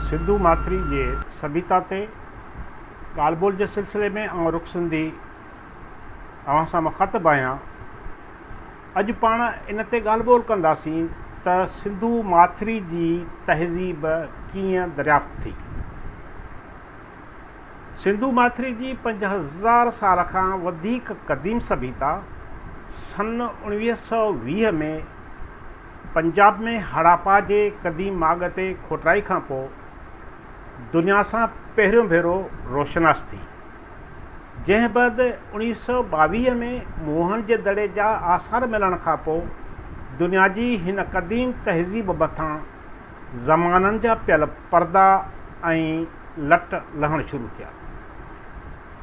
سنڌو ماٿري جي سڀيتا تي ڳالهه ٻولهه جي سلسلي ۾ آئون رخ سنڌي اوهان سان مخاطب آهيان. اڄ پاڻ ان تي ڳالهه ٻولهه ڪنداسين ته سنڌو ماٿري جي تهذيب ڪيئن دريافت ٿي. سنڌو ماٿري جي پنج هزار سال کان وڌيڪ قديم سڀيتا سن اوڻويهه سؤ ويهه ۾ پنجاب ۾ هڙاپا جي قديم ماڳ تي کوٽرائي کان پوء دنيا سان پهريون ڀيرو روشناس ٿي. جنهن بعد اوڻويهه سؤ ٻاويهه ۾ موهن جي دڙي جا آثار ملڻ کان پوء دنيا جي هن قديم تهذيب مٿان زمانن جا پيل پردا ۽ لٽ لهڻ شروع ٿيا.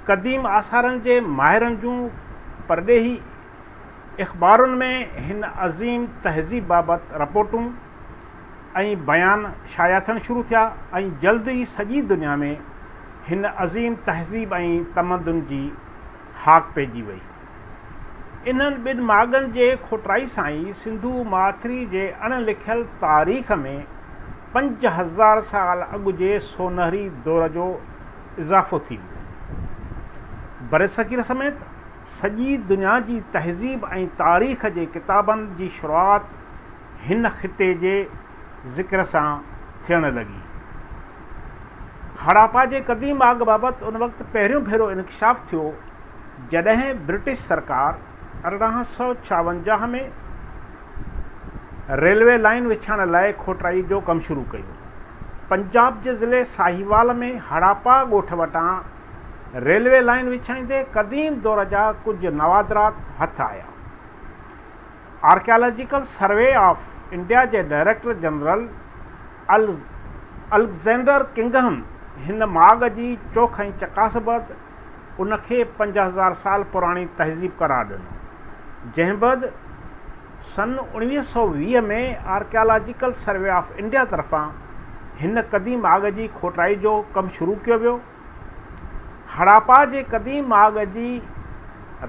قديم آثارن جي ماهرن جون پرڏيهي اخبارن ۾ هن عظيم تهذيب بابت رپورٽون ۽ بيان شايع ٿيڻ شروع ٿيا ۽ جلد ئي سڄي دنيا ۾ هن عظيم تهذيب ۽ تمدن جي هاڪ پئجي وئي. انهن ٻن ماڳن جي کوٽائي سان ئي سنڌو ماٿري جي اڻ لکيل تاريخ ۾ پنج هزار سال اڳ جي سونهري دور جو اضافو ٿي ويو. برصغير سميت سڄي دنيا جي تهذيب ۽ تاريخ جي ڪتابن جي شروعات هن خطي جي ذڪر سان ٿيڻ لڳي. هڙاپا جي قديم آگ بابت ان وقت پهريون ڀيرو انڪشاف ٿيو جڏهن برٽش سرڪار ارڙهن سؤ ڇاونجاهه ۾ ريلوي لائين وڇائڻ لاء کوٽرائي جو ڪم شروع ڪيو. پنجاب جي ضلعي ساهيوال ۾ هڙاپا ڳوٺ وٽان ريلوي لائين وڇائيندي قديم دور جا ڪجهه نوادرات هٿ آيا. آرڪيالاجيڪل سروي آف انڊيا جي ڊائريڪٽر جنرل الڪزينڊر ڪنگهم هن ماڳ جي چوک ۽ چڪاس بعد ان کي پنج هزار سال پراڻي تهذيب قرار ڏنو جنهن بعد سن اوڻيهه سؤ ويهه ۾ آرڪيالاجيڪل سروي آف انڊيا طرفان هن قديم ماڳ جي کوٽائي جو ڪم شروع ڪيو ويو هڙاپا جي قديم ماڳ جي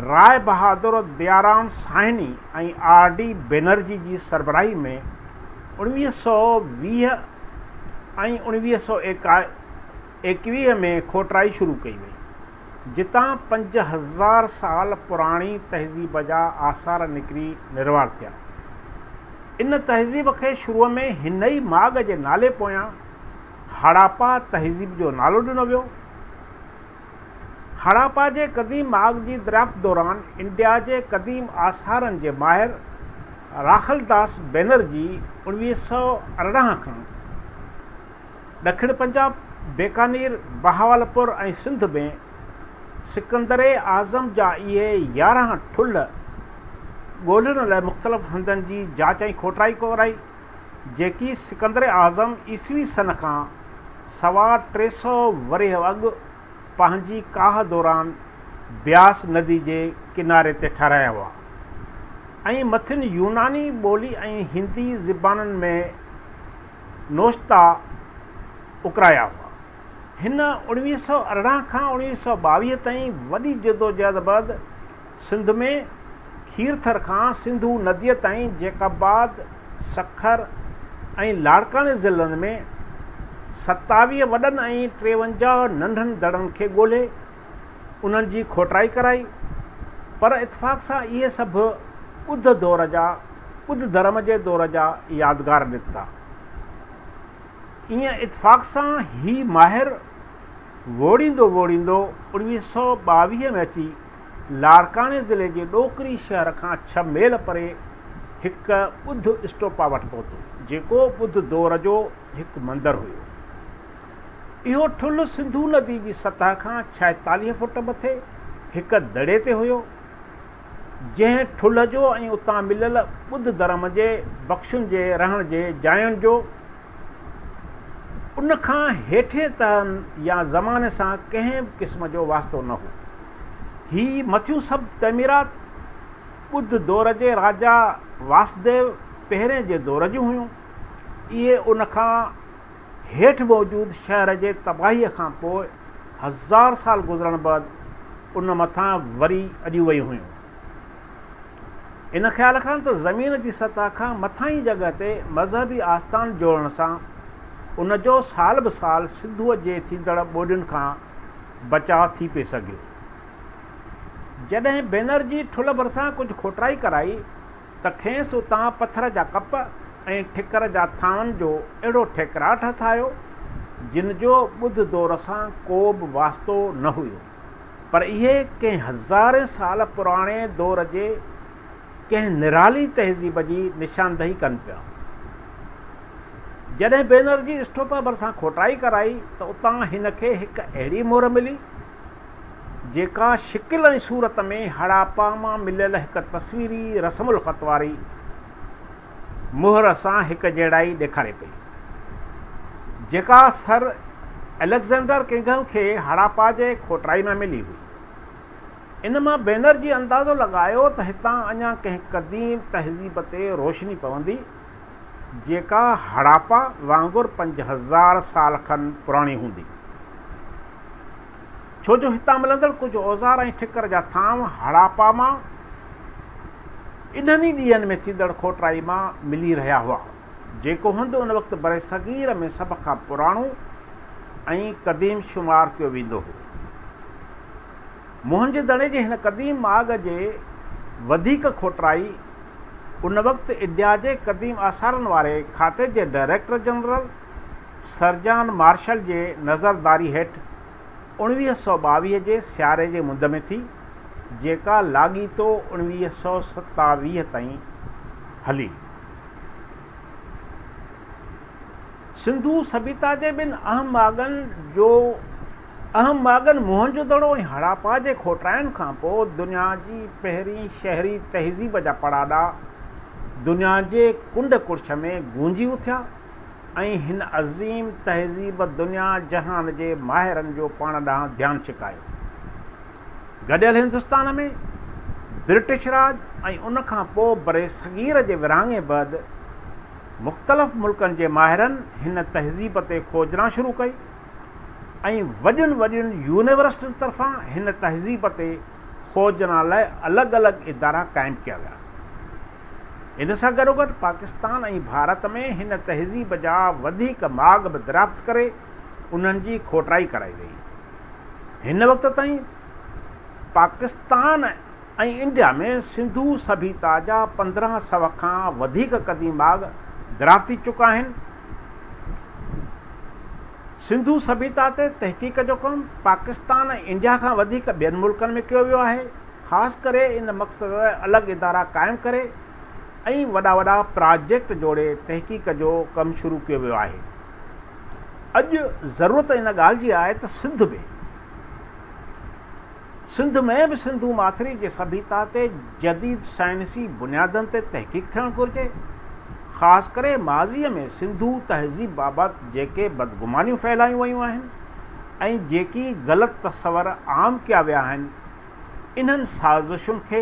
راء بهادر ديارام ساهني ۽ آر ڊي بينرجي جي سربراهي ۾ اوڻويهه سؤ ويهه ۽ اوڻويهه سؤ ايڪويهه ۾ کوٽرائي شروع ڪئي وئي جتان پنج هزار سال پراڻي تهذيب جا آثار نڪري نروار ٿيا ان تهذيب کي شروع ۾ هن ئي ماڳ جي نالي پويان هڙاپا تهذيب جو نالو ڏنو ويو. هڙاپا جي قديم ماڳ جي دريافت دوران انڊيا جي قديم آثارن جي ماهر راخل داس بينرجي اوڻويهه سؤ ارڙهن کان ڏکڻ پنجاب، بيڪانير، بهاولپور ۽ سنڌ ۾ سڪندر اعظم جا اهي يارهن ٺلهه ڳولهڻ لاء مختلف هنڌن جي جاچ ۽ کوٽرائي ڪرائي. جيڪي سڪندر اعظم عيسوي سن کان سوا ٽي سؤ ورهيه اڳ پنهنجي ڪاهه دوران بياس ندي جي ڪناري تي ٺهرايا هئا ۽ مٿين يوناني ٻولي ۽ هندي زبانن ۾ نوشتا اڪرايا هئا. هن اڻويهه سؤ ارڙهن کان اڻويهه سؤ ٻاويهه تائين وڏي جدوجهد بعد سنڌ ۾ کيرٿر کان سنڌو نديء تائين جيڪب آباد، سکر ۽ لاڙڪاڻي ضلعن ۾ ستاويهه وڏن ۽ ٽيونجاهه ننڍن دڙن کي ڳولهي انهن جي کوٽرائي ڪرائي پر اتفاق سان اهي سڀ ٻڌ دور جا ٻڌ ڌرم جي دور جا يادگار نڪتا. ايئن اتفاق سان هي ماهر ووڙيندو ووڙيندو اوڻويهه سؤ ٻاويهه ۾ اچي لاڙڪاڻي ضلعي جي ڏوڪري شهر کان ڇهه ميل پري هڪ ٻڌ اسٽوپا وٽ پهتو، جيڪو ٻڌ دور جو هڪ مندر هيو. اهو ٺلهه سنڌو ندي جي سطح کان ڇائيتاليهه فوٽ مٿي هڪ دڙي تي هيو، جنهن ٺلهه جو ۽ اتان مليل ٻڌ ڌرم جي ڀڪشن جي رهڻ جي جاين جو، ان کان هيٺين تهن يا زماني سان ڪنهن به قسم جو واسطو نه هو. هي مٿيون سڀ تعميرات ٻڌ دور جي راجا واسديو پهرين جي دور جون هيون. اهي ان کان هيٺ موجود شهر جي تباهيء کان پوء هزار سال گذرڻ بعد ان مٿان وري اڏيون ويون هيون. ان خيال کان ته زمين جي سطح کان مٿانهين جڳهه تي مذهبي آستان جوڙڻ سان ان جو سال به سال سنڌوء جي ٿيندڙ ٻوڏين کان بچاء ٿي پئي سگهيو. جڏهن بينرجي ٺلهه ڀرسان ڪجهه کوٽرائي ڪرائي ته کيس اتان پٿر جا ڪپ ۽ ٺڪر جا ٿانون جو اهڙو ٺيڪراٽ هٿ آيو، جن جو ٻڌ دور سان ڪو به واسطو نه هيو. پر اهي ڪنهن هزارين سال پراڻي دور جي ڪنهن نرالي تهذيب جي نشاندهي ڪن پيا. جڏهن بينرجي اسٽوپا ڀرسان کوٽائي ڪرائي ته اتان هن کي هڪ اهڙي مهر ملي، جيڪا شڪل ۽ صورت ۾ هڙاپا مان مليل هڪ تصويري رسم الخط واري مهر سان هڪجهڙائي ڏيکاري پئي، جيڪا سر اليگزينڊر ڪنگهه کي هڙاپا جي کوٽرائي ۾ ملي هئي. ان مان بينرجي اندازو لڳايو ته هتان اڃا ڪنهن قديم تهذيب تي روشني پوندي، جيڪا هڙاپا وانگر پنج هزار سال کن پراڻي هوندي. ڇو جو هتان ملندڙ ڪجهه اوزار ۽ ٺڪر جا ٿانو هڙاپا مان انهن ئي ڏينهن ۾ ٿيندڙ کوٽرائي مان ملي رهيا هئا، جيڪو هنڌ ان وقت برصغير ۾ سڀ کان پراڻو ۽ قديم شمار ڪيو ويندو هو. موهن جي دڙي جي هن قديم ماڳ جي وڌيڪ کوٽرائي ان وقت اڊيا جي قديم آثارن واري کاتي جي ڊائريڪٽر جنرل، سرجان مارشل جي نظرداري هيٺ اوڻويهه سؤ ٻاويهه جي سياري جي مند ۾ ٿي، جيڪا لاڳيتو اوڻويهه سؤ ستاويهه تائين هلي. سنڌو سڀيتا جي ٻن اهم ماڳن جو اهم ماڳن موهنجو دڙو ۽ هڙاپا جي کوٽرائن کان پوء دنيا جي پهرين شهري تهذيب جا پڙاڏا دنيا جي ڪنڊ ڪڙڇ ۾ گونجي اٿيا. ۽ هن عظيم تهذيب دنيا جهان جي ماهرن جو پاڻ ڏانهن ڌيان ڇڪايو. گڏيل هندستان ۾ برٽش راڄ ۽ ان کان پوء برصغير جي ورهاڱي بعد مختلف ملڪن جي ماهرن هن تهذيب تي کوجنا شروع ڪئي ۽ وڏين وڏين يونيورسٽين طرفان هن تهذيب تي کوجنا لاء الڳ الڳ ادارا قائم ڪيا ويا. ان سان گڏوگڏ پاڪستان ۽ ڀارت ۾ هن تهذيب جا وڌيڪ ماڳ به دريافت ڪري انهن جي کوٽرائي ڪرائي وئي. هن وقت تائين پاڪستان ۽ انڊيا ۾ سنڌو سڀيتا جا پندرهن سو کان وڌيڪ قديم ماڳ دريافت ٿي چڪا آهن. سنڌو سڀيتا تي تحقيق جو ڪم پاڪستان ۽ انڊيا کان وڌيڪ ٻين ملڪن ۾ ڪيو ويو آهي. خاص ڪري ان مقصد لاء الڳ ادارا قائم ڪري ۽ وڏا وڏا پراجيڪٽ جوڙي تحقيق جو ڪم شروع ڪيو ويو آهي. اڄ ضرورت ان ڳالهه جي آهي ته سنڌ ۾. سنڌ ۾ به سنڌو ماٿري جي سڀيتا تي جديد سائنسي بنيادن تي تحقيق ٿيڻ گهرجي. خاص ڪري ماضيء ۾ سنڌو تهذيب بابت جيڪي بدگمانيون ڦهلايون ويون آهن ۽ جيڪي غلط تصور عام ڪيا ويا آهن، انهن سازشن کي